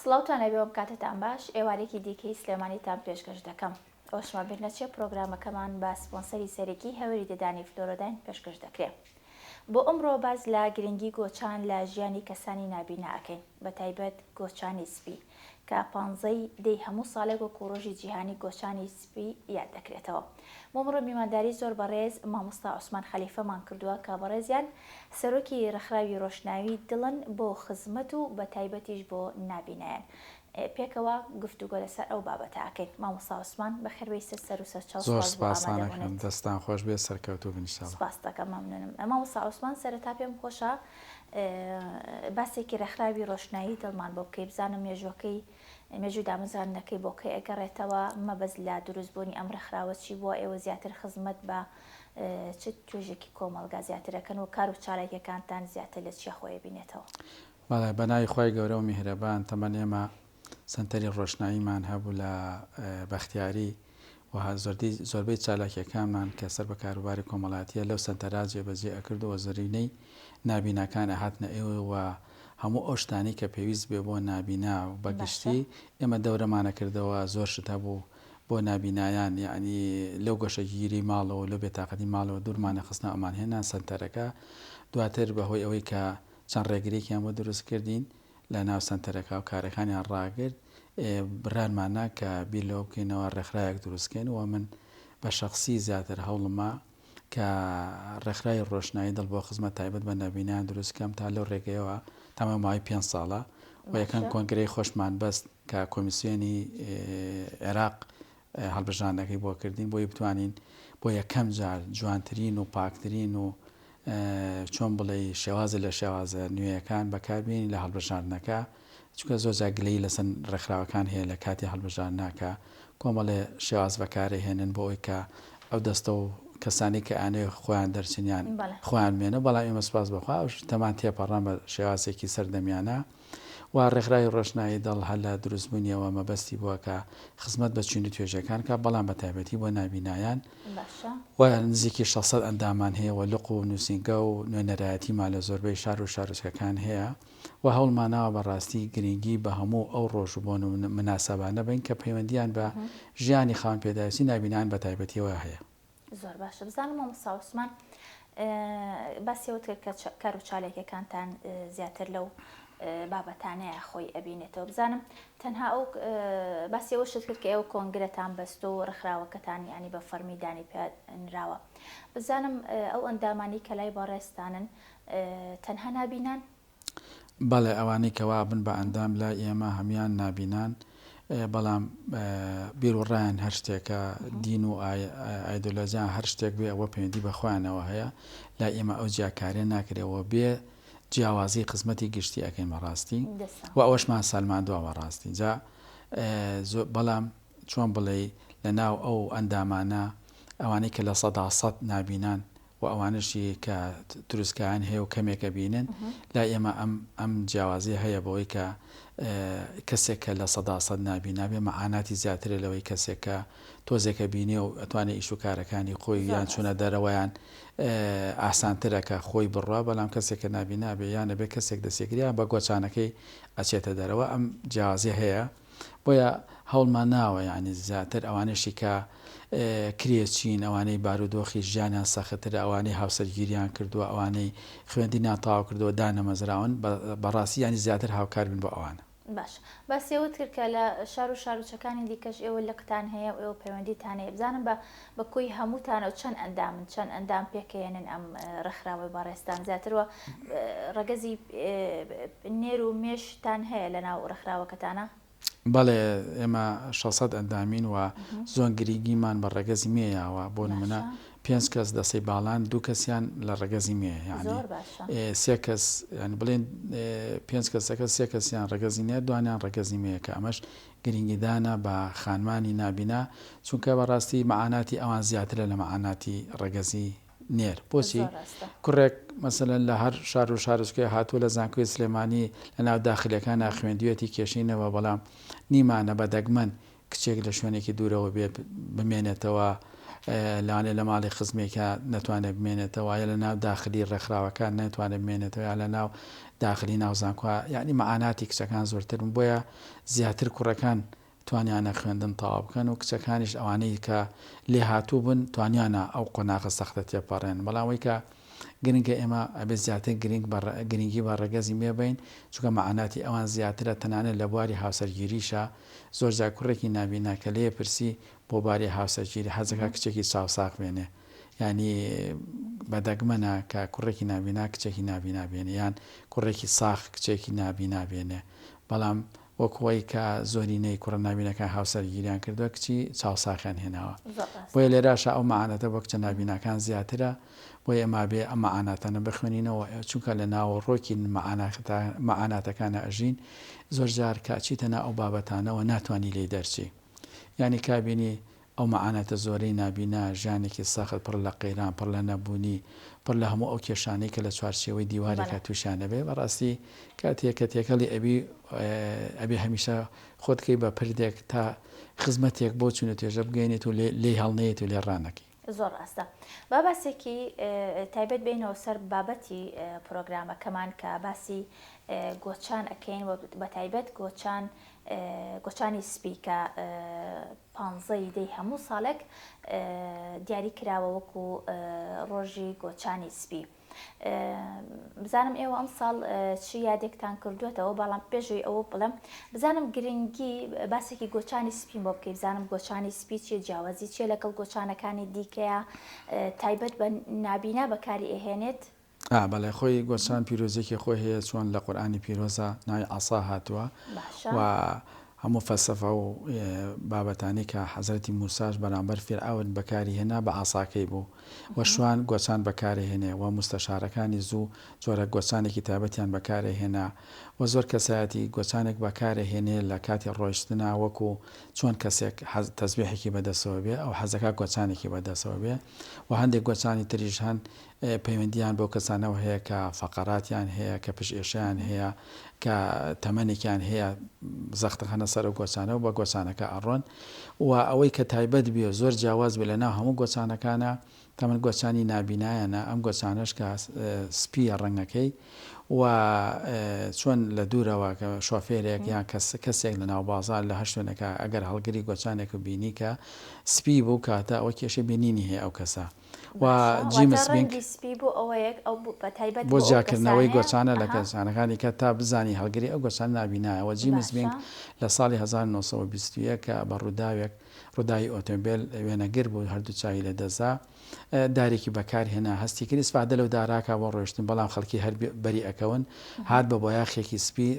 سڵاوتان لەبێ وەم کاتەتان باش ئێوارێکی دیکەی سلێمانیتان پێشکەش دەکەم ئەوەشما بیر نەچێ پرۆگرامەکەمان بە سپۆنسەری سەرەکی هەوری ددانی فلۆرۆداین پێشکەش دەکرێ بۆ ئەمڕۆ باس لە گرنگی گۆچان لە ژیانی کەسانی نابینا ئەکەین بەتایبەت گۆچانی سپی کە پانزەی دەی هەموو ساڵێک وەکو ڕۆژی جیهانی گۆچانی ی یاد دەکرێتەوە. بۆ مڕۆ میوانداری زۆر بەڕێز مامۆستا عوسمان خەلیفە مان کردووە کە بەڕێزیان سەرۆکی ڕێکخراوی ڕۆشناوی دڵن بۆ خزمەت و بە تایبەتیش بۆ نابینایان پێکەوە گفتوگۆ لەسەر ئەو بابەتە ئەکەین مامۆستا عوسمان بەخێربێیسە سەر و سەرچاو زۆر سپاس بۆ سپاسان ئەکەم ئامادەبوونت. دەستان خۆش بێت سەرکەوتوو بن انشاللە. سپاست ئەکەم مەمنونم. مامۆستا عوسمان سەرەتا پێم خۆشە باسێکی ڕێکخراوی ڕۆشنایی دڵ مان بۆ بکەی بزانم مێژووەکەی مێژووی دامەزراندنەکەی بۆ کەی ئەگەڕێتەوە، مەبەست لە دروست بوونی ئەم ڕێکخراوە چی بووە، ئێوە زیاتر خزمەت بە چ توێژێکی کۆمەڵگا زیاتر ئەکەن و کار و چالاکیەکانتان زیاتر لە چیا خۆی ئەبینێتەوە؟ بەڵێ بەناوی خوای گەورە و میهرەبان، تەمەن ئێمە سەنتەری ڕۆشناییمان هەبوو لە بەختیاری، و زۆردی زۆربەی چالاکیەکانمان کە سەر بە کاروباری کۆمەڵاتیە لەو سەنتەرا جێ بەجێ ئەکرد و زرینەی نابیناکان ئەهاتنە ئێوە و هەموو ئەو شتانەی کە پێویست بێ بۆ نابینا بە گشتی ئێمە دەورەمان ئەکردەوە زۆر شت هەبوو بۆ نابینایان یەعنی لەو گۆشەگیری ماڵەوە و لەو بێتاقەتی ماڵەوە دوورمان ئەخستنەوە ئەمان هێنا سەنتەرەکە دواتر بە هۆی ئەوەی کە چەند ڕێگرێکیان بۆ دروست کردین لە ناو سەنتەرەکە و کارەکانیان ڕاگرت، برانمانە کە بیر لەوە بکەینەوە ڕێکخراوێک دروست بکەین و من بە شەخسی زیاتر هەوڵمە کە ڕێکخراوی ڕۆشنایی دڵ بۆ خزمەت تایبەت بە نەبینان دروست بکەم تا لەو ڕێگەیەوە تەمام ماوەی پێنج ساڵە و یەکەم کۆنگرەی خۆشمان بەست کە کۆمیسیۆنی عێراق هەڵبژاردنەکەی بۆ کردین بۆی بتوانین بۆ یەکەم جار جوانترین و پاکترین و چۆن بڵێی شێوازە لە شێوازە نوێیەکان بەکاربیێنین لە هەڵبژاردنەکە چکە زۆر جاگلەی لەسەن ڕێکخراوەکان هەیە لە کاتی هەڵبژاردناکە کۆمەڵێ شێواز بەکارە هێنن بۆ ئەوی کە ئەو دەستە و کەسانی کە ئەنێ خۆیان دەرچنیان خۆیان مێنە بەڵام ئێمە سپاس بخوا تەمان تێپەڕان بە شێوازێکی سەردەمیانە و ڕێکخراوی ڕۆشنایی دڵ هەر لە دروستبوونیەوە مەبەستی بووە کە خزمەت بە چین و توێژەکان بکات بەڵام بە تایبەتی بۆ نابینایان و نزیکی شەش سەد ئەندامان هەیە و لق و نووسینگە و نوێنەرایەتیمان لە زۆربەی شار و شارۆچکەکان هەیە و هەوڵماناوە بە ڕاستی گرنگی بە هەموو ئەو ڕۆژ و بۆن و مناسەبانە بەین کە پەیوەندییان بە ژیانی خاوەن پێداویستی نابینایان بە تایبەتیەوە هەیە. زۆر باشە بزانم مامۆستا عوسمان باسی ئەوت کرد کە کار و چالاکیەکانتان زیاتر لەو بابەتانەیە خۆی ئەبینێتەوە بزانم تەنها ئەو باسی ئەوە شت کرد کە ئێوە کۆنگرەتان بەست و ڕخراوەکەتان ینی بە فەرمی دانی پێنراوە بزانم ئەو ئەندامانی کە لای بەڕێستانن تەنها نابینان بەڵێ ئەوانەی کە وا ئەبن بە ئەندام لای ئێمە هەموان نابینان بەڵام بیر و ڕایان هەر شتێکە دین و ئایدۆلۆجیان هەر شتێک بێ ئەوە پەیوەندی بەخوایانەوە هەیە لا ئێمە ئەو جیاکارێن ناکرێەوە بێ جیاوازی خزمەتی گشتی ئەەکەیمە ڕاستی و ئەوەشمان سالمان دواوە ڕاستی جا بەڵام چۆن بڵێ لە ناو ئەو ئەندامانە ئەوانەی کە لە سەدا سەد نابینان و ئەوانەشی کە تروسکایان هەیە و کەمێک ئەبینن، لای ئێمە ئەم ئەم جیاوازیە هەیە بەوەی کە کەسێک کە لە سەدا سەد نابینابێ مەعاناتی زیاترە لەوەی کەسێک کە تۆزێک ئەبینێ و ئەتوانێ ئیش و کارەکانی خۆی یان چوونە دەرەوەیان ئاسانترە کە خۆی بڕوا بەڵام کەسێک کە نابینابێ یان ئەبێ کەسێک دەسێگرە یان بە گۆچانەکەی ئەچێتە دەرەوە ئەم جیاوازیە هەیە. بۆیە هەوڵمان ناوە یانی زیاتر ئەوانەشی کە کرێچین ئەوانەی بارودۆخی ژیانیان سەختترە ئەوانەی هاوسەرگیریان کردووە ئەوانەی خوێندینیان تاوا کردووە دانەمەزراون بەڕاستی ینی زیاتر هاوکار بن بۆ ئەوانە باش باسیەوەت کرد کە لە شار و شارۆچەکانی دیکەش ئێوە لقتان هەیە و ئێوە پەیوەندیتان هەیە بزانم بە بە کۆی هەمووتانەوە چەند ئەندامن چەند ئەندام پێکەێنن ئەم ڕێکخراوەی بەڕێستان زیاترەوە ڕەگەزی نێر و مێشتان هەیە لە ناو ڕێکخراوەکەتانە بەڵێ ئێمە 600 ئەندامین و زۆن گرنگیمان بە ڕێگەزی مێیاوە بۆ نمونە پێنج کەس دەسەی باڵان دوو کەسیان لە ڕێگەزی مێ یعنی سێ کەس بڵێن پێنج کەسەکە سێ کەسیان ڕێگەزی نێ دوانیان ڕێگەزی مەیەکە ئەمەش گرنگیدانە بە خانمانی نابینا چونکە بەڕاستی مەعاناتی ئەوان زیاترە لە مەعاناتی ڕەگەزی نێر بۆچی کوڕێک مەسەلەن لە هەر شار و شارۆچکەیە هاتووە لە زانکۆی سلێمانی لە ناو داخلیەکانا خوێندویەتی کێشەی نەبووە بەڵام نیمانە بە دەگمەن کچێک لە شوێنێکی دوورەوە بێ بمێنێتەوە لەوانێ لە ماڵی خزمێکە نەتوانێت بمێنێتەوە یا لە ناو داخلی ڕێکخراوەکان نەتوانێت بمێنێتەوە یا لە ناو داخلی ناوزانکوە یعنی مەعاناتی کچەکان زۆرترن بۆیە زیاتر کوڕەکان توانیانە خوێندن تەواو بکەن و کچەکانیش ئەوانەی کە لێهاتوو بوون توانیانە ئەو قۆناغە سەختە تێپەڕێن بەڵام ئەوەی کە گرنگە ئێمە ئەبێت زیاتر گرنگ بە گرنگی بە ڕەگەزی مێ بین چونکە مەعاناتی ئەوان زیاترە تەنانەت لە بواری هاوسەرگیریشە زۆرجار کوڕێکی نابینا کە لێ پرسی بۆ باری هاوسەرگیری حەز دەکات کچێکی چاوساغ بێنێ یانی بەدەگمەنە کە کوڕێکی نابینا کچێکی نابینا بێنێ یان کوڕێکی ساخ کچێکی نابینا بێنێ بەڵام وەک خۆی کە زۆرینەی کوڕە نابینەکان هاوسەرگیریان کردووە کچی چاوساخیان هێناوە بۆیە لێراشە ئەو مەعاناتە بۆ کچە نابیناکان زیاترە بۆیە ئەما بێ ئەم مەعاناتانە بخوێنینەوە چونکە لە ناوەڕۆکی مەعاناتەکانە ئەژین زۆرجار کە ئەچیتە ناو ئەو بابەتانەوە ناتوانی لێی دەرچی یانی کابینی ئەو مەعاناتە زۆرەی نابینا، ژیانێکی سەخت، پڕ لە قەیران، پڕ لە نەبوونی، پڕ لە هەموو ئەو کێشانەی کە لە چوارچێوەی دیوارێکا تووشیان ئەبێ، بەڕاستی کاتێ کە تێکەڵی ئەبی، ئەبێ هەمیشە خۆت کەی بە پردێک تا خزمەتێک بەو چون و توێژە بگەیەنیت و لێی هەڵنەیەیت و لێ ڕانەکەی. زۆر ڕاستە. با باسێکی تایبەت بێینەوە سەر بابەتی پرۆگرامەکەمان کە باسی گۆچان ئەکەین و بە تایبەت گۆچان گۆچانی سپی کە پانزە ی دەی هەموو ساڵێک دیاری کراوە وەکو ڕۆژی گۆچانی سپی بزانم ئێوە ئەم ساڵ چی یادێکتان کردوێتەوە بەڵام پێشوی ئەوە بڵم بزانم گرنگی باسێکی گۆچانی سپیم بۆ بکەی بزانم گۆچانی سپی چیە جیاوازی چیە لەگەڵ گۆچانەکانی دیکەیە تایبەت بە نابینا بەکاری ئەهێنێت ئا بەڵێ خۆی گۆچان پیرۆزیەکی خۆی هەیە چۆن لە قورئانی پیرۆزە ناوی عەسا هاتووە باشە و هەموو فەلسەفە و بابەتانی کە حەزرەتی موساش بەرامبەر فیرعەون بەکاری هێنا بە عەساکەی بوو و شوان گۆچان بەکارێ هێنێ و موستەشارەکانی زوو جۆرە گۆچانێکی تایبەتیان بەکارێ هێنا و زۆر کەسایەتی گۆچانێک بەکارێ هێنێ لە کاتی ڕۆیشتنا وەکو چۆن کەسێک حەز تەزبیحێکی بەدەسەوە بێ ئەو حەزەکە گۆچانێکی بەدەسەوە بێ و هەندێک گۆچانی تریش هەن پەیوەندییان بەو کەسانەوە هەیە کە فەقەراتیان هەیە، کە پشتئێشەیان هەیە، کە تەمەنێکیان هەیە، زەخت دەخەنە سەر ئەو گۆچانە و بە گۆچانەکە ئەڕۆن و ئەوەی کە تایبەت بێ و زۆر جیاواز بێ لە ناو هەموو گۆچانەکانا تەمەن گۆچانی نابینایانە، ئەم گۆچانەش کە سپییە ڕەنگەکەی و چۆن لە دوورەوە کە شۆفێرێک یان کەس کەسێک لە ناو بازار لە هەر شوێنێکا ئەگەر هەڵگری گۆچانێک و بینی کە سپی بوو کاتە ئەوە کێشەی بینینی هەیە ئەو کەسە. و جیمس بینک بۆ جیاکردنەوەی گۆچانە لە گۆچانەکانی کە تا بزانی هەڵگری ئەو گۆچانە نابینایە و جیمس بینک لە ساڵی هەزار و نۆ سەد و بیست و یەک کە بە ڕووداوێک ڕووداوی ئۆتۆمبێل وێنەگر بوو هەردوو چاوی لە دەست دا دارێکی بەکار هێنا هەستی کرد ئیسفادە لەو داراکە بۆ ڕۆشتن بەڵام خەڵکی هەر بەری ئەکەون هات بە بۆیاخێکی سپی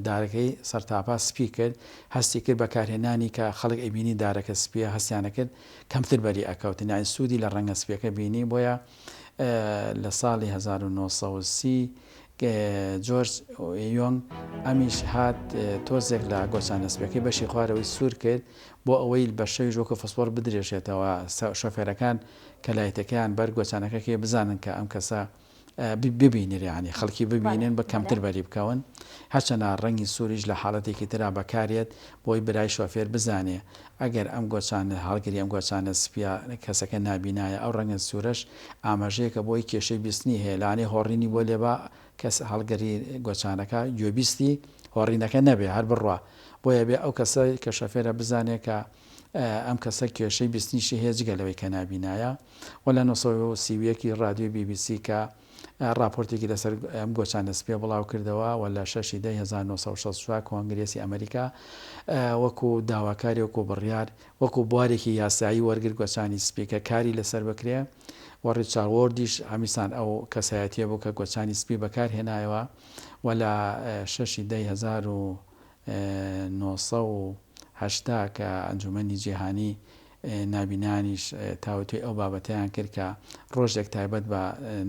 دارەکەی سەرتاپا سپی کرد هەستی کرد بەکارهێنانی کە خەڵک ئەبینی دارەکە سپیە هەستیانە کرد کەمتر بەری ئەکەوتن یانی سودی لە ڕەنگە سپیەکە بینی بۆیە لە ساڵی هەزار و نۆ سەد و سی جۆرج یۆنگ ئەمیش هات تۆزێک لە گۆچانە سپیەکەی بەشی خوارەوەی سوور کرد بۆ ئەوەی بە شەوی ژۆکە فسپۆر بدرێژێتەوە شۆفێرەکان کە لایتەکەیان بەر گۆچانەکەکەی بزانن کە ئەم کەسە ببینر یانی خەڵکی ببینن بە کەمتر بەری بکەون هەرچەنە ڕەنگی سووریش لە حاڵەتێکی تررا بەکارێت بۆی برای شۆفێر بزانێ ئەگەر ئەم گۆچانە هەڵگری ئەم گۆچانە سپیا کەسەکە نابینایە ئەو ڕەنگە سوورەش ئاماژەیەکە بۆی کێشەی بیستنی هەیە لانێ هۆڕینی بۆ لێبا کەس هەڵگری گۆچانەکە گوێبیستی هۆڕینەکە نەبێ هەر بڕوا بۆیە بێ ئەو کەسە کە شۆفێرە بزانێ کە ئەم کەسە کێشەی بیستنیشی هەیە جگە لەوەی کە نابینایە و لە نۆ سەد و سی و یەک ی ڕادیۆی بی بی سی کە ڕاپۆرتێکی لەسەر ئەم گۆچانە سپییە بڵاو کردەوە و لە شەش ی دە ی هەزار و نۆ سەد و شەست و چوار کۆنگرێسی ئەمریکا وەکوو داواکاری وەکوو بڕیار وەکوو بوارێکی یاسایی وەرگر گۆچانی سپی کە کاری لەسەر بکرێ و ڕیچاوۆردیش هەمیسان ئەو کەسایەتییە بوو کە گۆچانی سپی بەکار هێنایەوە و لە شەش ی دە ی هەزار و نۆ سەد و هەشتا کە ئەنجومەنی جیهانی نابینانیش تاوتوێی ئەو بابەتەیان کرد کە ڕۆژێک تایبەت بە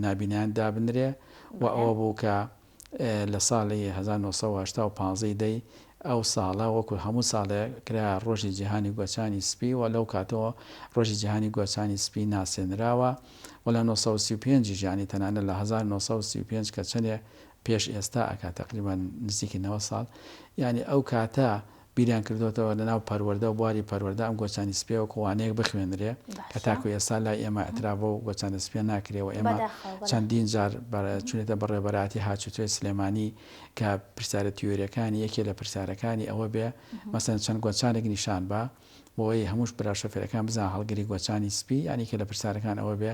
نابینان دابنرێ و ئەوە بوو کە لە ساڵی هەزار و نۆ سەد و هەشتا و پازدە ی دەی ئەو ساڵە وەکو هەموو ساڵێ کرا ڕۆژی جیهانی گوەچانی سپی و لەو کاتەوە ڕۆژی جیهانی گوەچانی سپی ناسێنراوە و لە نۆ سەد و سی و پێنج یش یانی تەنانەت لە هەزار و نۆ سەد و سی و پێنج کە چەنێ پێش ئێستا ئەکات تەقریبا نزیکی نەوەد ساڵ یانی ئەو کاتە بیریان کردۆتەوە لە ناو پەروەردە و بواری پەروەردە ئەم گۆچانی سپیە وەکو وانەیەک بخوێنرێ کە تاکو ئێستا لای ئێمە ئەتراف بەو گۆچانە سپیە ناکرێ و ئێمە چەندین جار چونێتە بە ڕێبەراتی هاتوچۆی سلێمانی کە پرسیارە تیۆریەکانی یەکێ لە پرسیارەکانی ئەوە بێ مەسەن چەند گۆچانێک نیشان بە بۆوەی هەمووش برا شۆفێرەکان بزان هەڵگری گۆچانی سپی یانی کە لە پرسیارەکان ئەوە بێ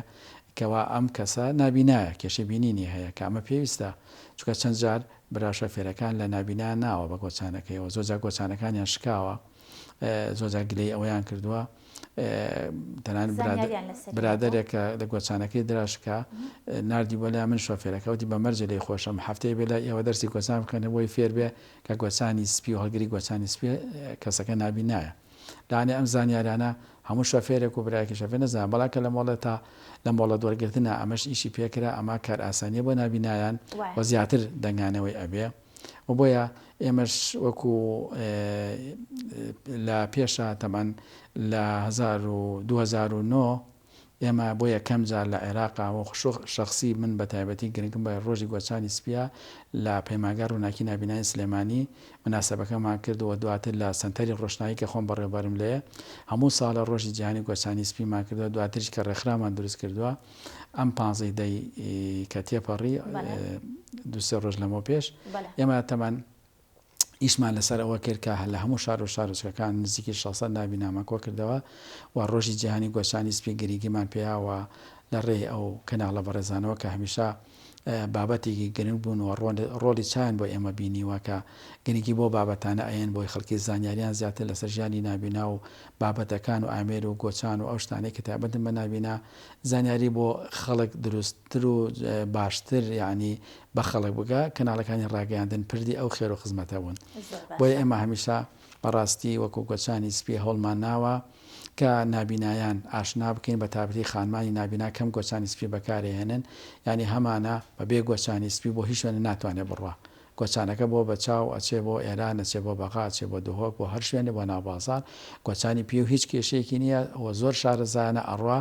کەوا ئەم کەسە نابینایە کێشەی بینینی هەیە کە ئەمە پێویستە چونکە چەند جار برا شۆفێرەکان لە نابینایان ناوە بە گۆچانەکەیەوە زۆر جار گۆچانەکانیان شکاوە زۆر جار گلەی ئەوەیان کردووە تەنان زانیاریان لەسەر برادەرێک کە لە گۆچانەکەی دراشکا ناردی بۆ لای من شۆفێرەکە وتی بە مەرجە لێی خۆشم هەفتەیە بێ لای ئێوە دەرسی گۆچان بکەنە بۆی فێر بێ کە گۆچانی سپی و هەڵگری گۆچانی سپیە کەسەکە نابینایە لانێ ئەم زانیارانە هەموو شۆفێرێک و برایەکی شۆفێر نەزانن بەڵام کە لە مۆڵەتا لە مۆڵەت وەرگرتنا ئەمەش ئیشی پێکرا ئەمە کارئاسانیە بۆ نابینایان وایە. و زیاتر دەنگانەوەی ئەبێ و بۆیە ئێمەش وەکو لە پێشا تەبعەن لە هەزار و دوو هەزار و نۆ ئێمە بۆ یەکەم جار لە عێراق و شەخسی من بە تایبەتی گرنگم بە ڕۆژی گۆچانی سپییە لە پەیمانگای ڕووناکی نابینایی سلێمانی مناسەبەکەمان کرد و دواتر لە سەنتەری ڕۆشنایی کە خۆم بەڕێوەبەرم لێ هەموو ساڵە ڕۆژی جیهانی گۆچانی سپیمان کردووە دواتریش کە ڕێکخراومان دروست کردووە ئەم پانزەی دەی کە تێپەڕی دوسێ ڕۆژ لەمەو پێش ئێمە تەمان ئیشمان لەسەر ئەوە کرد کە لە هەموو شار و شارۆچکەکان نزیکی 600 ناوی نامە کۆ کردەوە و ڕۆژی جیهانی گۆچانی سپی گرنگیمان پێیا و لە ڕێی ئەو کەناڵە بەڕێزانەوە کە هەمیشە بابەتێکی گرنگ بوون و ڕۆڵی چایان بۆ ئێمە بینیوە کە گرنگی بۆ بابەتانە ئەیەن بۆی خەڵکی زانیاریان زیاتر لەسەر ژیانی نابینا و بابەتەکان و ئامێر و گۆچان و ئەو شتانەی کە تایبەتن بە نابینا زانیاری بۆ خەڵک دروست تر و باشتر یانی بە خەڵک بگا کەناڵەکانی ڕاگەیاندن پردی ئەو خێرو خزمەتە بوون بۆیە ئێمە هەمیشە بەڕاستی وەکو گۆچانی سپی هەوڵمان ناوە کە نابینایان ئاشنا بکەین بە تابتی خانمانی نابینا کەم گۆچانی سپی بەکارێهێنن یانی هەمانە بە بێ گۆچانی سپی بۆ هیچ شوێنە ناتوانێت بڕوا گۆچانەکە بۆ بەچاو، ئەچێ بۆ ئێران، ئەچێ بۆ بەغا، ئەچێ بۆ دهۆک، بۆ هەر شوێنێ، بۆ ناو بازاڕ، گۆچانی پیو هیچ کێشەیەکی نییە و زۆر شارەزایانە ئەڕوا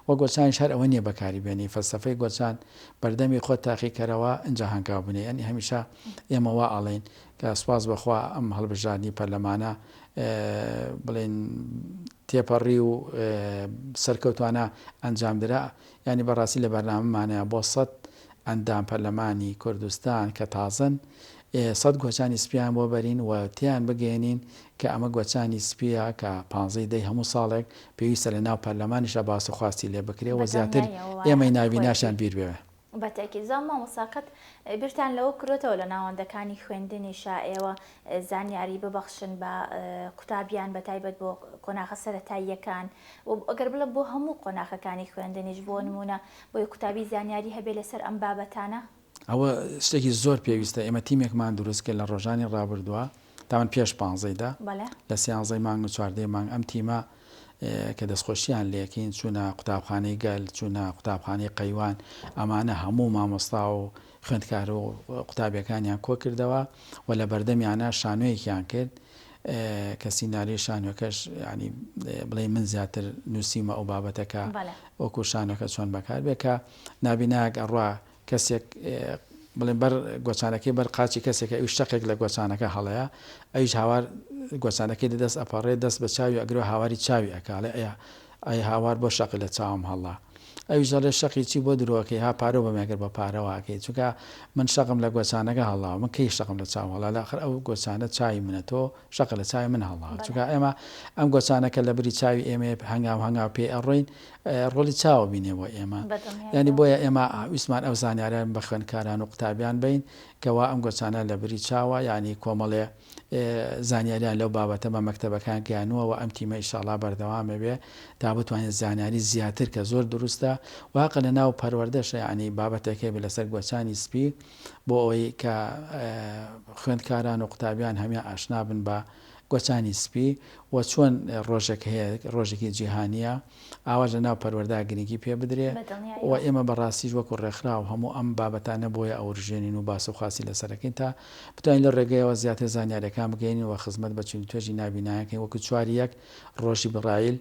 و گۆچانیش هەر ئەوە نییە بەکاری بێنی. فەلسەفەی گۆچان، بەردەمی خۆت تاقی کەرەوە، ئینجا هەنگاو بنێ. یانی هەمیشە ئێمە وا ئەڵێین کە سوپاس بۆ خوا ئەم هەڵبژاردنی پەرلەمانە بڵێین تێپەڕی و سەرکەوتوانە ئەنجام درا. یانی بەڕاستی لە بەرنامەمانەیا بۆ سەد ئەندام پەرلەمانی کوردستان کە تازەن سەد گۆچانی سپیان بۆ بەرین و تێیان بگەیەنین کە ئەمە گۆچانی سپیە کە پانزەی دەی هەموو ساڵێک پێویستە لە ناو پەرلەمانیشدا باس و خواستی لێ بکرێ و زیاتر ئێمەی نابیناشیان بیر بێ. بە تەئکید. زاڵ مامۆستا قەت بیرتان لەوە کردۆتەوە لە ناوەندەکانی خوێندنیشا ئێوە زانیاری ببەخشن بە قوتابیان بە تایبەت بۆ قۆناغە سەرەتاییەکان و ئەگەر بڵێم بۆ هەموو قۆناخەکانی خوێندنیش بۆ نمونە بۆی قوتابی زانیاری هەبێ لەسەر ئەم بابەتانە؟ ئەوە شتێکی زۆر پێویستە ئێمە تیمێکمان دروست کرد لە ڕۆژانی ڕابردووە تاوان پێش پانزەی دە بەڵێ. لە سیانزەی مانگ و چواردەی مانگ ئەم تیمە کە دەستخۆشیان لێکەین چوونە قوتابخانەی گەل چوونە قوتابخانەی قەیوان ئەمانە هەموو مامۆستا و خوێندکار و قوتابیەکانیان کۆکردەوە و لە بەردەمیانە شانۆیەکیان کرد کە سیناریۆی شانۆکەش یانی بڵێی من زیاتر نووسیومە ئەو بابەتە کە وەکو شانۆکە چۆن بەکار بێ کە نابینایەک ئەڕوا کەسێک بڵێن بەر گۆچانەکەی بەر قاچی کەسێکە ئەوش شەقێک لە گۆچانەکە هەڵەیە ئەوش هاوار گۆچانەکەی دەدەست ئەپەڕێ دەست بە چاوی ئەگرۆ هاواری چاوی ئەکاڵێ ئەیە ئای هاوار بۆ شەقی لە چاوم هەڵدا. ئەویش دەڵێ شەقی چی بۆ درۆ ئەکەی ها پارە بەم ئەگەر بە پارە وا ئەکەی چونکە من شەقم لە گۆچانەکە هەڵداوە من کەی شەقم لە چاوم هەڵدا لە ئەخر ئەو گۆچانە چاوی منە تۆ شەقە لە چاوی من هەڵداوە چونکە ئێمە ئەم گۆچانەکە لە بری چاوی ئێمەیە هەنگاو هەنگاو پێی ئەڕۆین ڕۆڵی چاوە بینێ بۆ ئێمە یانی بۆیە ئێمە ویستمان ئەو زانیارە بە خوێندکاران و قوتابیان بەین کە وا ئەم گۆچانە لە بری چاوە یانی کۆمەڵێ زانیاریان لەو بابەتە بە مەکتەبەکان گەیانووە و ئەم تیمە ئیشاڵا بەردەوامە بێ تا بتوانێت زانیاری زیاتر کە زۆر دروستە واقع لە ناو پەروەردەشە یعنی بابەتێک هەیە بێ لەسەر گۆچانی سپی بۆ ئەوەی کە خوێندکاران و قوتابیان هەمیان ئاشنا بن بە گۆچانی سپی و چۆن ڕۆژێک هەیە ڕۆژێکی جیهانیە ئاواش لەناو پەروەردە گرنگی پێ بدرێ و ئێمە بە ڕاستیش وەکو ڕێکخراو هەموو ئەم بابەتانە بۆیە ئەورژێنین و باس و خواسی لەسەر ئەکەین تا بتوانین لەو ڕێگەیەوە زیاتر زانیاریەکان بگەیەنین و خزمەت بە چین و توێژی نابینایان کەین وەکو چواری یەک ڕۆژی بڕایل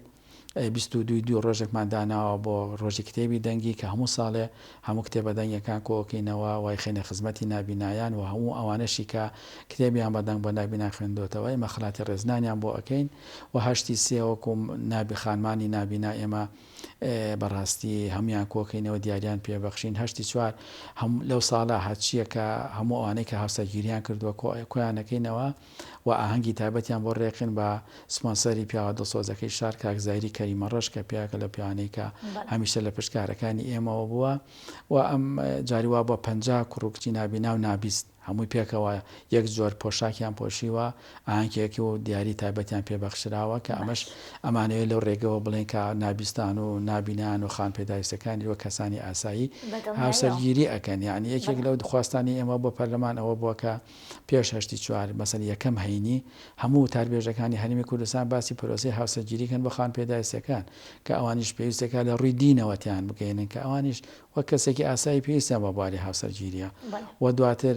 بیست و دووی دوو ڕۆژێکمان داناوە بۆ ڕۆژی کتێبی دەنگی کە هەموو ساڵێ هەموو کتێبە دەنگیەکان کۆکەینەوە وایخەینە خزمەتی نابینایان و هەموو ئەوانەشی کە کتێبیان بە دەنگ بۆ نابینا خوێندۆتەوە ئێمە خەلاتی ڕێزنانیان بۆ ئەکەین و هەشتی سێ وەکو نابی خانمانی نابینا ئێمە بەڕاستی هەموان کۆکەینەوە دیاریان پێ بەخشین هەشتی چوار هەم لەو ساڵە هەرچیە کە هەموو ئەوانەی کە هاوسەرگیریان کردووە کۆیانەکەینەوە و ئاهەنگی تایبەتیان بۆ ڕێکخن بە سپۆنسەری پیاوە دڵسۆزەکەی شار کاک زایری کەریمە ڕەش کە پیاوێکە لە پیاوانەی کە هەمیشە لە پشت کارەکانی ئێمەوە بووە و ئەم جاری وا بە پەنج کوڕ و کچی نابینا و نابیست هەمووی پێکەوە یەک زۆر پۆشاکیان پۆشیوە ئاهەنگێکی و دیاری تایبەتیان پێبەخشراوە کە ئەمەش ئەمانەیە لەو ڕێگەوە بڵێن کە نابیستان و نابینان و خان پێداویستەکانی وە کەسانی ئاسایی هاوسەرگیری ئەکەن یعنی یەکێک لەو دخواستانی ئێمە بۆ پەرلەمان ئەوە بووە کە پێش هەشتی چوار مەسەن یەکەم هەینی هەموو وتاربێژەکانی هەرێمی کوردستان باسی پرۆسەی هاوسەرگیری کەن بۆ خانپێداویستەکان کە ئەوانیش پێویستەکە لە ڕووی دینەوە تێیان بگەیەنن کە ئەوانیش وەک کەسێکی ئاسایی پێویستیان بە بواری هاوسەرگیریە و دواتر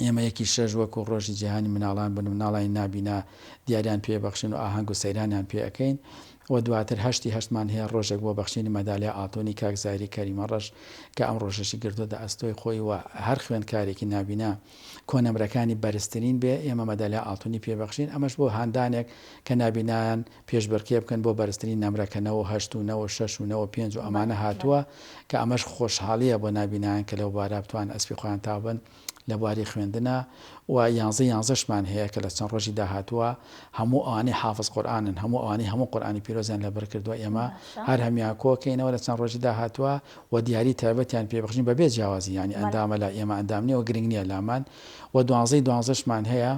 ئێمە یەکی شەش وەکو ڕۆژی جیهانی مناڵان بن مناڵانی نابینا دیاریان پێ بەخشن و ئاهەنگ و سەیرانیان پێ ئەەکەین و دواتر هەشتی هەشتمان هەیە ڕۆژێک بۆ بەخشینی مەدالیا ئاڵتونی کاک زایری کەریمە ڕەش کە ئەم ڕۆژەشی گرتۆتە ئەستۆی خۆی و هەر خوێندکارێکی نابینا کۆ نەمرەکانی بەرزترین بێ ئێمە مەدالیا ئاڵتونی پێ بەخشین ئەمەش بۆ هاندانێک کە نابینایان پێشبرکێ بکەن بۆ بەرزترین نەمرە کە نەوە و هەشت و نەوە و شەش و نەوە و پێنج و ئەمانە هاتووە کە ئەمەش خۆشحاڵیە بۆ نابینایان کە لەو بارە بتوانن ئەسپی خۆیان تاو بن. لە بواری خوێندنا و یانزەی یانزەشمان هەیە کە لە چەند ڕۆژی داهاتووە هەموو ئەوانەی حافز قورئانن هەموو ئەوانەی هەموو قورئانی پیرۆزیان لەبەر کردووە ئێمە هەر هەموان کۆکەینەوە لە چەند ڕۆژی داهاتووە و دیاری تایبەتیان پێ بخشین بەبێ جیاوازی یانی ئەندامە لای ئێمە ئەندام نییە و گرنگ نییە لامان و دوانزەی دوانزەشمان هەیە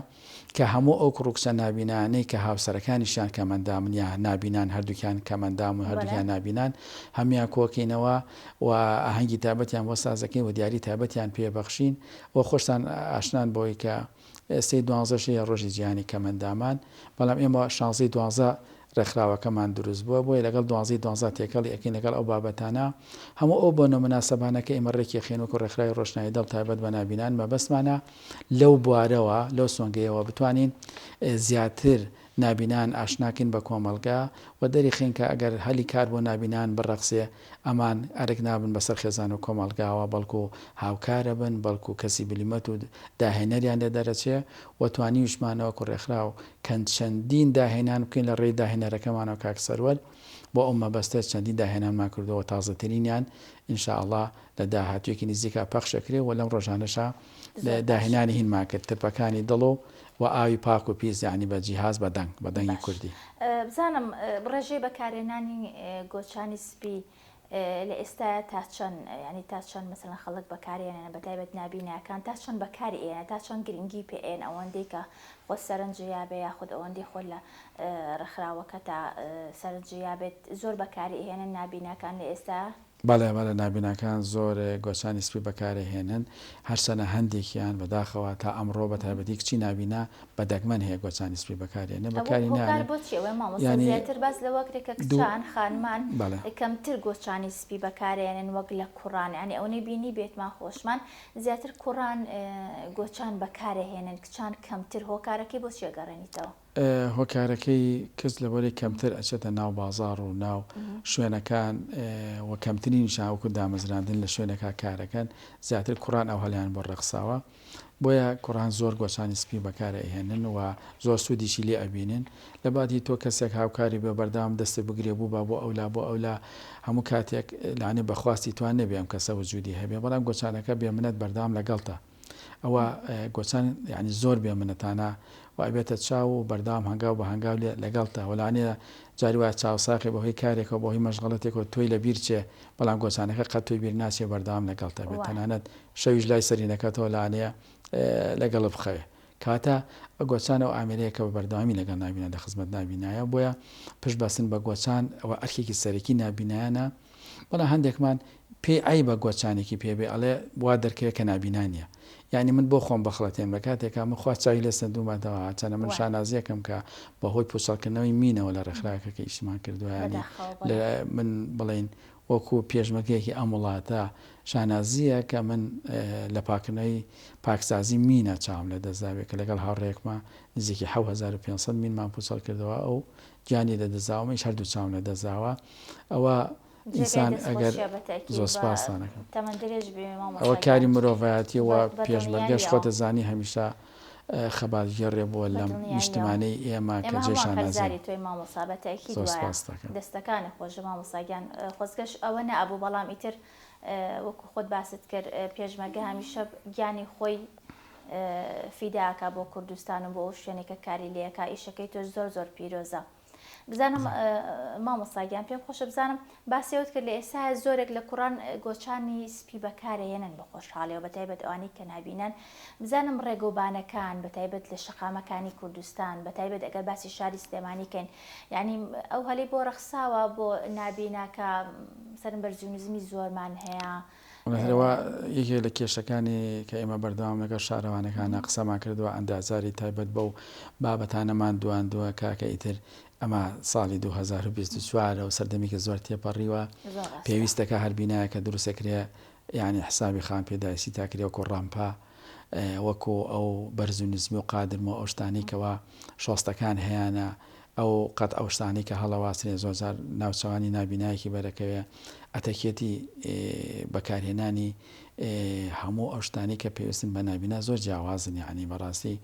کە هەموو ئەو کوڕ و کچە نابینایانەی کە هاوسەرەکانیشیان کەمئەندامن یا نابینان هەردووکیان کەمئەندام و هەردووکیان نابینان هەموویان کۆکەینەوە و ئاهەنگی تایبەتیان بۆ ساز دەکەین و دیاری تایبەتیان پێ بەخشین و خۆشتان ئاشنان بەوەی کە سەی دوانزەشەیە ڕۆژی جیهانی کەمئەندامان بەڵام ئێمە شانزەی دوانزە ڕێکخراوەکەمان دروست بووە بۆیە لەگەڵ دوانزەی دوانزە تێکەڵی ئەکەین لەگەڵ ئەو بابەتانە هەموو ئەو بۆنە مناسەبانە کە ئێمە ڕێکی ئەخەین وەکو ڕێکخراوی ڕۆشنایی دڵ تایبەت بە نابینان مەبەستمانە لەو بوارەوە لەو سۆنگەیەوە بتوانین زیاتر نابینان ئاشناکەین بە کۆمەڵگە و دەریخەین کە ئەگەر هەلی کار بۆ نابینان بڕەخسێ ئەمان ئەرک نابن بەسەر خێزان و کۆمەڵگاوە، بەڵکو هاوکارەبن، بەڵکو کەسی بلیمەت و داهێنەریان لێ دەرەچێ و توانیوشمان وەکو ڕێکخراو کەند چەندین داهێنان بکەین لە ڕێی داهێنەرەکەمانەوە کاک سەروەر بۆ ئەو مەبەستە چەندین داهێنانمان کردوە و تازەترینیان ان شاء اللە لە داهاتویەکی نزیکا پەخشەکرێ و لەم ڕۆژانەشا زۆر باش. داهێنانی هینمان کرد ترپەکانی دڵ و وە ئاوی پاک و پیس یەعنی بە جیهاز بە دەنگ بە دەنگی باش کوردی. بزانم ڕێژەی بەکارهێنانی گۆچانی سپی لە ئێستایا تا چەند یانی تا چەند مەسەلەن خەڵک بەکاریانێنە بەتایبەت نابیناکان تا چەند بەکاری ئێنە تا چەند گرنگی پێ ئێن ئەوەندەی کە خۆ سەرنج یابێ یاخود ئەوەندەی خۆ لە ڕێکخراوەکە تا سەرنج یابێت زۆر بەکاری ئێنە نابیناکان لە ئێستا بەڵێ بەڵێ نابیناکان زۆر گۆچانی سپی بەکارەهێنن هەرچەنە هەندێکیان بەداخەوە تا ئەمڕۆ بەتایبەتی کچی نابینا بە دەگمەن هەیە گۆچانی سپی بەکاریێنێ بەکاری ناێنێ یانی دوو خانمان کەمتر گۆچانی سپی بەکارێنن وەک لە کوڕان ینی ئەو نەبینی بێتمان خۆشمان زیاتر کوڕان گۆچان بەکارەهێنن کچان کەمتر هۆکارەکەی بۆ چێگەڕێنیتەوە هۆکارەکەی کەس لەبەرەی کەمتر ئەچێتە ناو بازاڕ و ناو شوێنەکان و کەمتری نیشان وەکو دامەزراندن لە شوێنەکا کارەکەن زیاتر کوڕان ئەو هەلیان بۆ ڕێخساوە بۆیە کوڕان زۆر گۆچانی سپی بەکارە ئەهێنن و زۆر سوودیشی لێ ئەبینن لە بادی تۆ کەسێک هاوکاری بێ بەردەوام دەستی بگرێ بوو با بۆ ئەولا بۆ ئەولا هەموو کاتێک لانێ بەخواستی توان نەبێ ئەم کەسە وجودی هەبێ بەڵام گۆچانەکە بێ منەت بەردەوام لەگەڵتە ئەوە گۆچان یعنی زۆر بێ منەتانە و ئەبێتە چاو و بەردەوام هەنگاو بە هەنگاو لێ لەگەڵتە وەلانێ جاری وایە چاوساخی بەهۆی کارێکەوە بەهۆی مەشغەڵەتێکەوە تۆی لەبیر چێ بەڵام گۆچانەکە قەت تۆی بیر ناچێ بەردەوام لەگەڵتە بێ تەنانەت شەویش لای سەرینەکەتەوە لانێ لەگەڵ بخەوێ کەواتە گۆچان و ئامرەیەکە بە بەردەوامی لەگەڵ نابینە لە خزمەت نابینایە بۆیە پشت بەسن بە گۆچان ئەوە ئەرکێکی سەرەکی نابینایانە بەڵام هەندێکمان پێی عەیبە گۆچانێکی پێ بێ ئەڵێ وا دەرکەوێ کە نابینا نیە یانی من بۆ خۆم بخڵەتێن لە کاتێکا من خوا چاوی لێ سەندوومەتەوە هەرچەنە من شانازیەکەم کە بە هۆی پوچەڵکردنەوەی مینەوە لە ڕێکخراوەکە کە ئیشیمان کردوە یانی لە من بڵێین وەکو پێشمەرگەیەکی ئەم وڵاتە شانازیە کە من لە پاکردنەوەی پاکسازی مینە چاوم لە دەزاوێ کە لەگەڵ هاوڕێکمە نزیکی 1500 مینمان پوچەڵ کردەوە ئەو گیانی لە دەزاومەش هەردوو چاوم لە دەزاوە ئەوە جێگای ئینسان ئەگەر دەستخۆشیە بە تەئکید زۆر بە سپاستان ئەکەم تەمەن درێژ بی مامۆستا ئەوە کاری گیان مرۆڤایەتیە و بە بە پێشمەرگەش دڵنیاییەوە. خۆتە زانی هەمیشە خەباتگێڕێ بووە بە لەم دڵنیاییەوە نیشتمانەی ئێمە کە ئێمە جێی هەمووان شانازین قەرزاری تۆین مامۆسا بە تەئکید زۆر وایە سپاستت ئەکەم. دەستەکانت خۆش مامۆستا گیان خۆزگەش ئەوە نەئەبوو بەڵام ئیتر وەکو خۆت باست کرد پێشمەرگە هەمیشە گیانی خۆی فیدا ئەکا بۆ کوردستان و بۆ ئەو شوێنەی کە کاری لێ ئەکا ئیشەکەی تۆش زۆر زۆر پیرۆزە. بزانم مامۆستا گیان پێم خۆشە بزانم باسی ئەوت کرد لە ئێستا زۆرێک لە کوڕان گۆچانی سپی بەکارەهێنن بە خۆشحاڵەوە بە تایبەت ئەوانی کە نابینن بزانم ڕێگۆبانەکان بە تایبەت لە شەقامەکانی کوردستان بە تایبەت ئەگەر باسی شاری سلێمانی کەین یعنی ئەو هەلی بۆ ڕەخساوە بۆ نابیناکە سەرم بەرزی و نزمی زۆرمان هەیە هەرەوە یەکێک لە کێشەکانی کە ئێمە بەردەوام لەگەڵ شارەوانەکانە قسەمان کردوە ئەندازاری تایبەت بەو بابەتانەمان دواندوە کاکە ئیتر ئەمە ساڵی 2024 و سەردەمیکە زۆر تێپەڕیوە پێویستەکە هەر بینایەکە دروستەکرێ یعنی حسابی خان پێداویستی تاکرێوەکۆ ڕامپا وەکو ئەو بەرز و نزمی و قادرم و ئەو شتانەی کەوا شۆستەکان هەیانە، ئەو قەت ئەو شتانەی کە هەڵەواسرێ زۆر جار ناوچەوانی نابینایەکی بەرەکەوێ، ئەتەکێتی بەکارهێنانی هەموو ئەو شتانەی کە پێویستن بە نابینا زۆر جیاوازن یەعنی بەڕاستی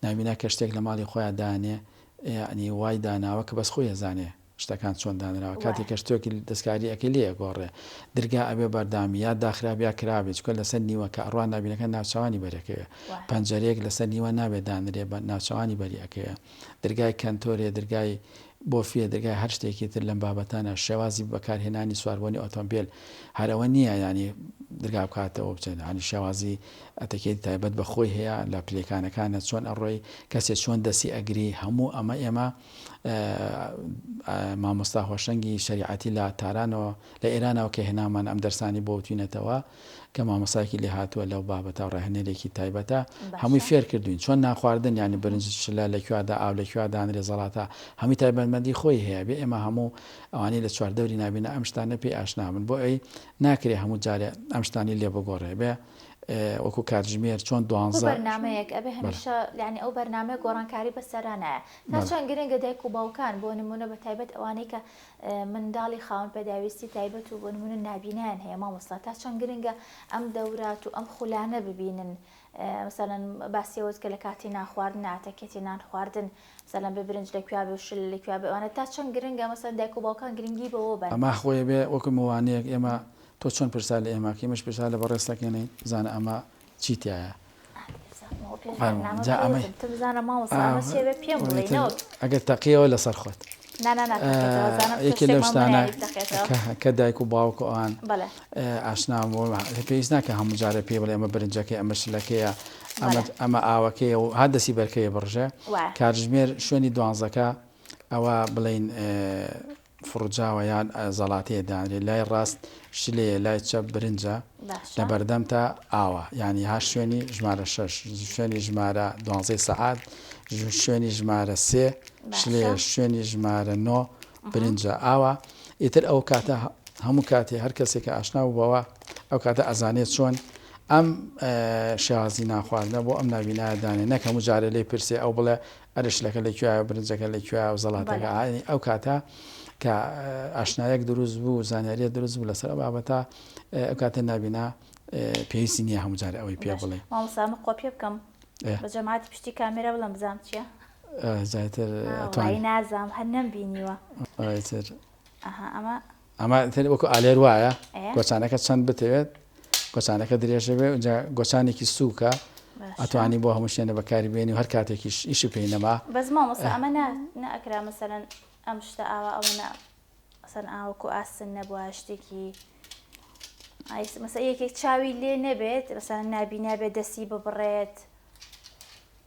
نابینا کە شتێک لە ماڵی خۆیا دانێ یەعنی وای داناوە کە بەس خۆی ئەزانێ شتەکان چۆن دانراوە کاتێک کە شتێکی دەستکاری ئەکەی لێ ئەگۆڕێ درگا ئەبێ بەردامی یا داخرابێ یا کرابێ چونکە لەسەر نیوەکە ئەڕوا ناوینەکە ناوچەوانی بەرێ ئەکەوێ پەنجەرەیەک لەسەر نیوە نابێ دانرێ بە ناوچەوانی بەری ئەکەوێ درگای کەنتۆرێ درگای بۆفیە درگای هەر شتێکی تر لەم بابەتانە شێوازی بەکارهێنانی سواربوونی ئۆتۆمبیل هەرەوە نییە ینی درگا بکاتەوە بچێت هەنی شێوازی ئەتەکێت تایبەت بە خۆی هەیە لە پلەکانەکانە چۆن ئەڕۆی کەسێ چۆن دەسی ئەگری هەموو ئەمە ئێمە مامۆستا هۆشەنگی شەریعەتی لە تارانەوە لە ئێرانەوە کە هێنامان ئەم دەرسانی بۆ وتوینەتەوە کە مامۆستایەکی لێ هاتووە لەو بابەتە ڕاهێنەرێکی تایبەتە هەمووی فێر کردوین چۆن ناخواردن ینی برنج شلە لە کوێدا ئاو لە کوێ دانرێ زەڵاتە هەمووی تایبەتمەندی خۆی هەیە بێ ئێمە هەموو ئەوانی لە چواردەوری نابینە ئەم شتانە پێی ئاشنابن بۆ ئەی ناکرێ هەموو جارێ ئەم شتانی لێ بگۆڕێ بێ وەکو کاتژمێر چۆن دوانزە بەرنامەیەک ئەبێ هەمیشە لانی ئەو بەرنامەیە گۆڕانکاری بەسەرانایە تا چەند گرنگە دایک و باوکان بۆ نمونە بە تایبەت ئەوانەی کە منداڵی خاون پێداویستی تایبەت و بۆ نمونە نابینایان هەیە مامۆستا تا چەند گرنگە ئەم دەورات و ئەم خولانە ببینن مثلەن باسیەوەت کە لە کاتی ناخواردن ئاتەکێتی نان خواردن مثلەن بە برنج لە کوێ بێ شل لە کوێ بێوانە تا چەند گرنگە مەسەن دایک و باوکان گرنگی بەوە بەن ئەما خۆی بێ وەکو موانەیەک ئێمە تۆ چۆن پرسا لە ئێمە کە ئێمەش پرسا لە بەڕێزتەکەێنین بزانە ئەمە چی تیایە؟ ئەگەر تەقیەوە لەسەر خۆت یەکی لەو شتانە کە دایک و باوک ئەوان ئاشنا بۆ پێویست ناکە هەموو جارە پێ بڵێ ئەمە برنجەکە ئەمە شلەکەیە ئەمە ئاوەکەی و هەر دەسی بەرکەیە بڕژە کارژمێر شوێنی دوانزەکە ئەوە بڵین فڕوجاوە یان زەڵاتەیە دانرێت لای ڕاست شلەیە لای چەپ برنجە باشە لەبەردەم تا ئاوە یانی هاش شوێنی ژمارە شەش شوێنی ژمارە دوانزەی سەعات ژ- شوێنی ژمارە سێ باشە. شلەیە شوێنی ژمارە نۆ برنجە ئاوە ئیتر ئەو کاتە هە- هەموو کاتێ هەر کەسێک کە ئاشنا بوو بەوە ئەو کاتە ئەزانێ چۆن ئەم شێوازی نان خواردنە بۆ ئەم ناوینایە دانێ نەک هەموو جارێ لێی پرسێ ئەو بڵێ ئەرێ شلەکە لە کوێیە و برنجەکە لە کوێیە و زەڵاتەکە بەڵێ. ئاینی ئەو کاتە کە ئاشنایەک دروست بوو و زانیارییەک دروست بوو لەسەر ئەو بابەتە ئێ ئەو کاتە نابینا ئێ پێویستی نییە هەموو جارێ ئەوەی پێ باشە بڵێین. مامۆستا ئەمە قۆپیە بکەم ئێ. بە جەماعەتی پشتی کامێرا بڵێم بزانم چییە؟ ئێ جا ئیتر ئا وەڵایی ئەتوانی. نازام هەر نەمبینیوە. ئا ئیتر. ئەها ئەمە. ئەمە تر وەکو ئالێر وایە گۆچانەکە چەند بتەوێت گۆچانەکە درێژە بێ جا گۆچانێکی سووکە ئەتوانی بۆ هەموو شوێنە بەکاری بێنی و هەر کاتێکیش ئیش و پێی نەما بەس مامۆستا ئەمە نەئەکرا مەسەرەن ئەم شتە ئاوا ئەوە نە ئەسەن ئاوەکو ئاسن نەبووە شتێکی مەسە یەکێک چاوی لێ نەبێت بەسان نابی نابێت دەستی ببڕێت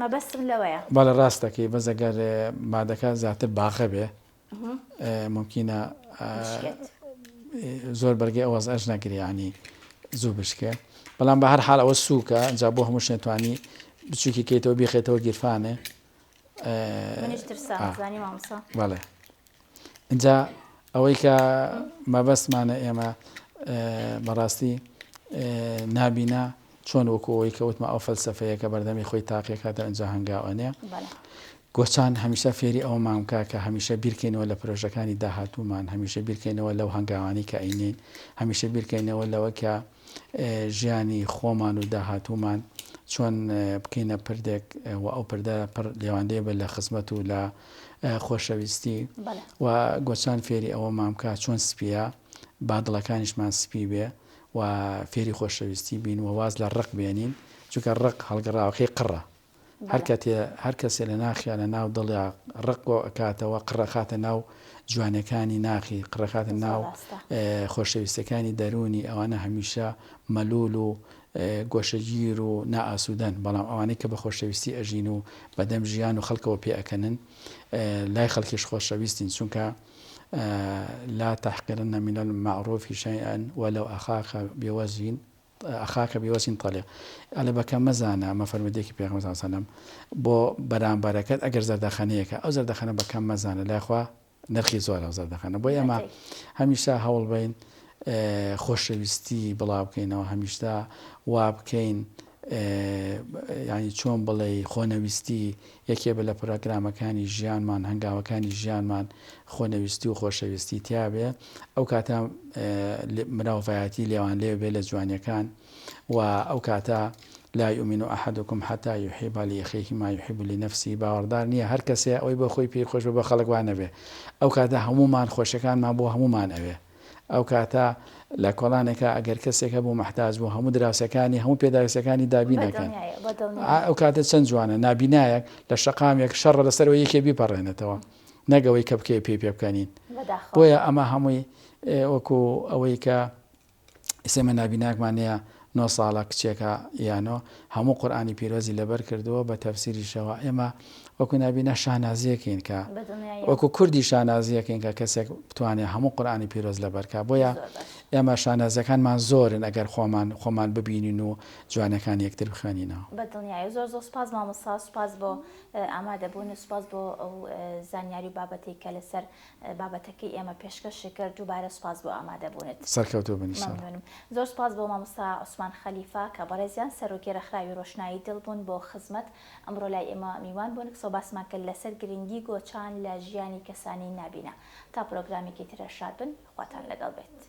مەبەستم لەوەیە بەڵێ ڕاست دەکەی بەس ئەگەر مادەکە زیاتر باغە بێ ممکنە زۆر بەرگی ئەوەز ئەش نەگریانی زوو بشکێ بەڵام بە هەر حال ئەوە سووکە جا بۆ هەموو شێتوانی بچووکی کەیتەوە بیخێتەوە گیرفانێ منیش ترسام آه. زانی مامسا بله اینجا ئەوەی کە مەبەستمانە ئێمە بەڕاستی نابینا چۆن وەکو ئەوەی کە وتمە ئەو فەلسفەیە کە بەردەمی خۆی تاقیەکاتە ئەنج هەنگاوانەیە گۆچان هەمیشە فێری ئەو مامکە کە هەمیشە بیرکەینەوە لە پرۆژەکانی داهاتوومان هەمیشە بیرکەینەوە لەو هەنگاوانی کە ئەینین هەمیشە بیرکەینەوە لەوە کە ژیانی خۆمان و داهاتوومان چۆن بکەینە پردێک و ئەو پردە پڕ لێواندەیە بە لە خزمەت و لە خۆشەویستی و گۆچان فێری ئەوە مامکە چۆن سپیە با دڵەکانیشمان سپی بێ و فێری خۆشەویستی بین و واز لە ڕق بێنین چونکە ڕق هەڵگەڕاوەکەی قڕە هەر کەتێ هەر کەسێ لە ناخیا لە ناو دڵیا ڕق بۆ ئەکاتەوە قڕ ئەخاتە ناو جوانیەکانی ناخی قڕ ئەخاتە ناو خۆشەویستەکانی دەروونی ئەوانە هەمیشە مەلول و گۆشەگیر و نائاسوودەن بەڵام ئەوانەی کە بە خۆشەویستی ئەژین و بەدەم ژیان و خەڵکەوە پێ ئەکەنن لای خەڵکیش خۆشەویستین چونکە لا تحقرن من المعروف شيئا ولو اخاك بوجه خاکە بیوەسین تەلیق ئەلە بەکەم مەزانە ئەمە فەرمودەیەکی پێغەمبەر صلی اللە علیە و سەلەم بۆ بەرامبەرەکەت ئەگەر زەردەخەنەیەکە ئەو زەردەخەنە بەکەم مەزانە لای خوا نرخی زۆر ئەو زەردەخەنە بۆی ئەمە هەمیشە هەوڵ بین خۆشەویستی بڵاوکەینەوە هەمیشتا وابکەین ینی چۆن بڵێ خۆنەویستی یەکێبە لە پرۆگرامەکانی ژیانمان، هەنگاوەکانی ژیانمان خۆنەویستی و خۆشەویستی تیا بێ، ئەو کاتە مراوڤایەتی لێوان لێو بێ لە جوانیەکان و ئەو کاتە لا یومینو احدکم حتی یحیب لاخیه ما یحیب لنفسه باوەڕدار نیە هەر کەسێ ئەوەی بۆ خۆی پێی خۆش بێ بۆ خەڵک وا نەبێ، ئەو کاتە هەموومان خۆشیەکانمان بۆ هەموومان ئەوێ. ئەو کاتە لە کۆڵانێکا ئەگەر کەسێک هەبوو مەحتاج بوو هەموو دراوسێکانی هەموو پێداویستەکانی دابین ئەکەن ئەو کاتە چەند جوانە نابینایەک لە شەقامێک شەڕە لەسەرەوە یەکێ بیپەڕێنێتەوە نەگەوەی کە بکەی پێی پێ بکەنین بۆیە ئەمە هەمووی وەکو ئەوەی کە ئسێمە نابیناکمانەیە نۆ ساڵە کچێکە یانۆ هەموو قورئانی پیرۆزی لەبەر کردووە بە تەفسیریشەوە ئێمە وەکو نابینا شانازیەکەین کە وەکو کوردی شانازیەکەین کە کەسێک بتوانێت هەموو قورئانی پیرۆز لەبەرکە بۆیە ئێمە شانازەکانمان زۆرن ئەگەر خۆمان خۆمان ببینین و جوانەکان یەکتر بخوێنینەوە بە دڵنیایی زۆر زۆر سپاس مامۆستا سپاس بۆ ئامادەبوون و سپاس بۆ ئەو زانیاری و بابەتەی کە لەسەر بابەتەکەی ئێمە پێشکەشی کرد دووبارە سوپاس بۆ ئامادەبوونت. سەرکەوتوو بن انشاللە. مەمنونم. زۆر سوپاس بۆ مامۆستا عوسمان خەلیفە کە بەڕێزیان سەرۆکی ڕێکخراوی ڕۆشنایی دڵ بوون بۆ خزمەت ئەمڕۆ لای ئێمە میوان بوون قسەو باسمان کرد لەسەر گرنگی گۆچان لە ژیانی کەسانی نابینا. تا پرۆگرامێکی ترە شاد بن خواتان لەگەڵ بێت.